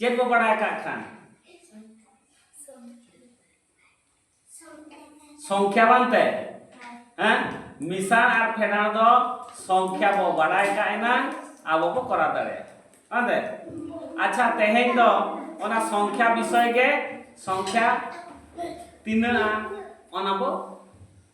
ᱪᱮᱫ ᱵᱚ ᱵᱟᱲᱟᱭ ᱠᱟᱜ ᱠᱷᱟᱱ ᱥᱚᱝᱠᱷᱭᱟ ᱵᱟᱝᱛᱮ ᱦᱮᱸ ᱢᱤᱥᱟᱬ ᱟᱨ ᱯᱷᱮᱰᱟᱬ ᱫᱚ ᱥᱚᱝᱠᱷᱭᱟ ᱵᱚ ᱵᱟᱲᱟᱭ ᱠᱟᱜ ᱮᱱᱟ ᱟᱵᱚ ᱵᱚ ᱠᱚᱨᱟᱣ ᱫᱟᱲᱮᱭᱟᱜᱼᱟ ᱵᱟᱝᱛᱮ ᱟᱪᱪᱷᱟ ᱛᱮᱦᱮᱧ ᱫᱚ ᱚᱱᱟ ᱥᱚᱝᱠᱷᱭᱟ ᱵᱤᱥᱚᱭ ᱜᱮ ᱥᱚᱝᱠᱷᱭᱟ ᱛᱤᱱᱟᱹᱜᱼᱟ ᱚᱱᱟ ᱵᱚ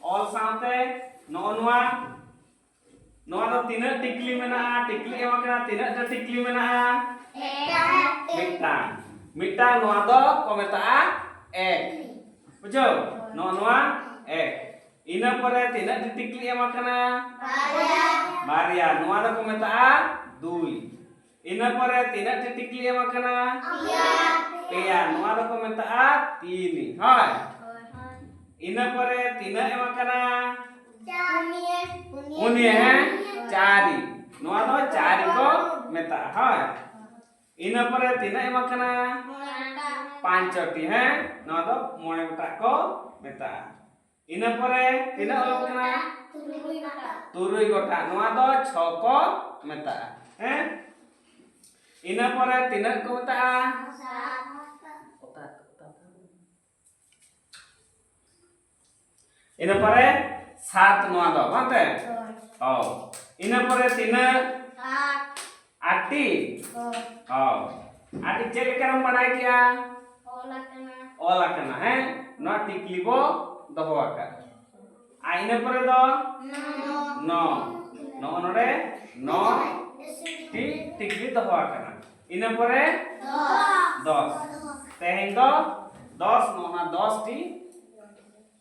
ᱚᱞ ᱥᱟᱶᱛᱮ ᱱᱚᱜᱼᱚ ᱱᱚᱣᱟ ᱱᱚᱣᱟ ᱫᱚ ᱛᱤᱱᱟᱹᱜ ᱴᱤᱠᱞᱤ ᱢᱮᱱᱟᱜᱼᱟ ᱴᱤᱠᱞᱤ ᱮᱢ ᱟᱠᱟᱱᱟ ᱛᱤᱱᱟᱹᱜ ᱴᱟ ᱴᱤᱠᱞᱤ ᱢᱮᱱᱟᱜᱼᱟ ᱢᱤᱫᱴᱟᱝ ᱢᱤᱫᱴᱟᱝ ᱱᱚᱣᱟ ᱫᱚ ᱠᱚ ᱢᱮᱛᱟᱜᱼᱟ ᱮᱠ ᱵᱩᱡᱷᱟᱹᱣ ᱱᱚᱜᱼᱚ ᱱᱚᱣᱟ ᱮᱠ ᱤᱱᱟᱹ ᱯᱚᱨᱮ ᱛᱤᱱᱟᱹᱜ ᱴᱤ ᱴᱤᱠᱞᱤ ᱮᱢ ᱟᱠᱟᱱᱟ ᱵᱟᱨᱭᱟ ᱱᱚᱣᱟ ᱫᱚᱠᱚ ᱢᱮᱛᱟᱜᱼᱟ ᱫᱩᱭ ᱤᱱᱟᱹ ᱯᱚᱨᱮ ᱛᱤᱱᱟᱹᱜ ᱴᱤ ᱴᱤᱠᱞᱤ ᱮᱢ ᱟᱠᱟᱱᱟ ᱯᱮᱭᱟ ᱱᱚᱣᱟ ᱫᱚᱠᱚ ᱢᱮᱛᱟᱜᱼᱟ ᱛᱤᱱᱤ ᱦᱳᱭ ᱤᱱᱟᱹ ᱯᱚᱨᱮ ᱛᱤᱱᱟᱹᱜ ᱮᱢ ᱟᱠᱟᱱᱟ ᱩᱱᱤ ᱦᱮᱸ ᱪᱟᱨᱤ ᱱᱚᱣᱟ ᱫᱚ ᱪᱟᱨᱤ ᱠᱚ ᱢᱮᱛᱟᱜᱼᱟ ᱦᱳᱭ ᱤᱱᱟᱹ ᱯᱚᱨᱮ ᱛᱤᱱᱟᱹᱜ ᱮᱢ ᱟᱠᱟᱱᱟ ᱯᱟᱸᱪᱚᱴᱤ ᱦᱮᱸ ᱱᱚᱣᱟ ᱫᱚ ᱢᱚᱬᱮ ᱜᱚᱴᱟᱜ ᱠᱚ ᱢᱮᱛᱟᱜᱼᱟ ᱤᱱᱟᱹ ᱯᱚᱨᱮ ᱛᱤᱱᱟᱹᱜ ᱚᱞᱚᱜ ᱠᱟᱱᱟ ᱛᱩᱨᱩᱭ ᱜᱚᱴᱟᱝ ᱱᱚᱣᱟ ᱫᱚ ᱪᱷᱚ ᱠᱚ ᱢᱮᱛᱟᱜᱼᱟ ᱦᱮᱸ ᱤᱱᱟᱹ ᱯᱚᱨᱮ ᱛᱤᱱᱟᱹᱜ ᱠᱚ ᱢᱮᱛᱟᱜᱼᱟ ᱤᱱᱟᱹ ᱯᱚᱨᱮ ᱥᱟᱛ ᱱᱚᱣᱟ ᱫᱚ ᱵᱟᱝ ᱛᱮ ᱚ ᱤᱱᱟᱹ ᱯᱚᱨᱮ ᱛᱤᱱᱟᱹᱜ ᱟᱴᱤ ᱦᱚᱸ ᱟᱴᱤ ᱪᱮᱫ ᱞᱮᱠᱟᱨᱮᱢ ᱵᱟᱰᱟᱭ ᱠᱮᱜᱼᱟ ᱚᱞ ᱟᱠᱟᱱᱟ ᱚᱞ ᱟᱠᱟᱱᱟ ᱦᱮᱸ ᱱᱚᱣᱟ ᱴᱤᱠᱞᱤ ᱵᱚ ᱫᱚᱦᱚ ᱟᱠᱟᱫ ᱟᱨ ᱤᱱᱟᱹ ᱯᱚᱨᱮ ᱫᱚ ᱱᱚ ᱱᱚᱜᱼᱚ ᱱᱚᱰᱮ ᱱᱚ ᱴᱤ ᱴᱤᱠᱞᱤ ᱫᱚᱦᱚ ᱟᱠᱟᱱᱟ ᱤᱱᱟᱹ ᱯᱚᱨᱮ ᱫᱚᱥ ᱛᱮᱦᱮᱧ ᱫᱚ ᱫᱚᱥ ᱱᱚᱜᱼᱚ ᱱᱚᱣᱟ ᱫᱚᱥ ᱴᱤ